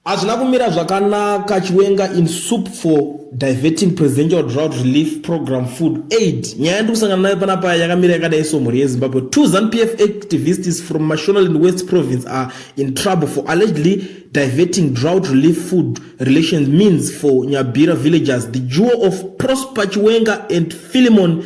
Hazvina kumira zvakanaka Chiwenga in soup for diverting presidential drought relief program food aid. Nyaya yandiri kusangana nayo pana paya yakamira yakadai so mhuri yeZimbabwe. Two ZANPF activists from Mashonaland West province are in trouble for allegedly diverting drought relief food relations means for Nyabira villagers. The duo of Prosper Chiwenga and Philemon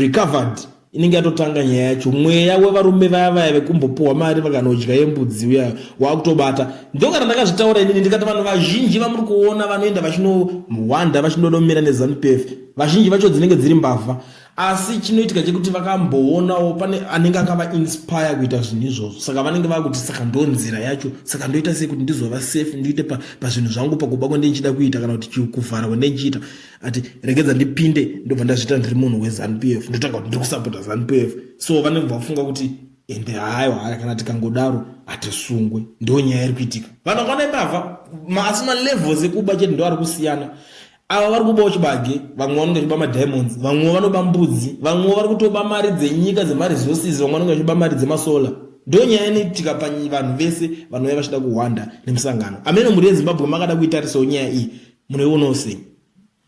recovered inenge yatotanga nyaya yacho mweya wevarume vaya vaya vekumbopuhwa mari vakanodya yembudzi uya waakutobata ndokana ndakazvitaura inini ndikati vanhu vazhinji vamuri kuona vanoenda vachinohwanda vachinodomira nezanupf vazhinji vacho dzinenge dziri mbavha asi chinoitika chekuti vakamboonawo pane anenge akavainspire kuita zvinhu izvozvo saka vanenge vakuti saka ndo nzira yacho saka ndoita sei kuti ndizova safe ndiite pazvinhu pa zvangu pakuba kwandindichida kuita kana kuti kuvhara kwandindichiita ati regedza ndipinde ndobva ndazviita ndiri munhu wezanup f ndotanga kuti ndiri kusapota zanup f so vanenge vafunga kuti ende hayo haya kana tikangodaro hatisungwe ndo nyaya iri kuitika vanhu vakwana imbavha asi malevels ekuba chete ndo ari kusiyana ava vari kubawo chibage vamwe vanonge vachiba madiamonds vamwe vanoba mbudzi vamwe vari kutoba mari dzenyika dzemaresources vamwe vanonge vachiba mari dzemasolar ndo nyaya inoitika pavanhu vese vanouya vachida kuhwanda nemusangano amene mhuri yezimbabwe makada kuitarisawo nyaya iyi munoionawo sei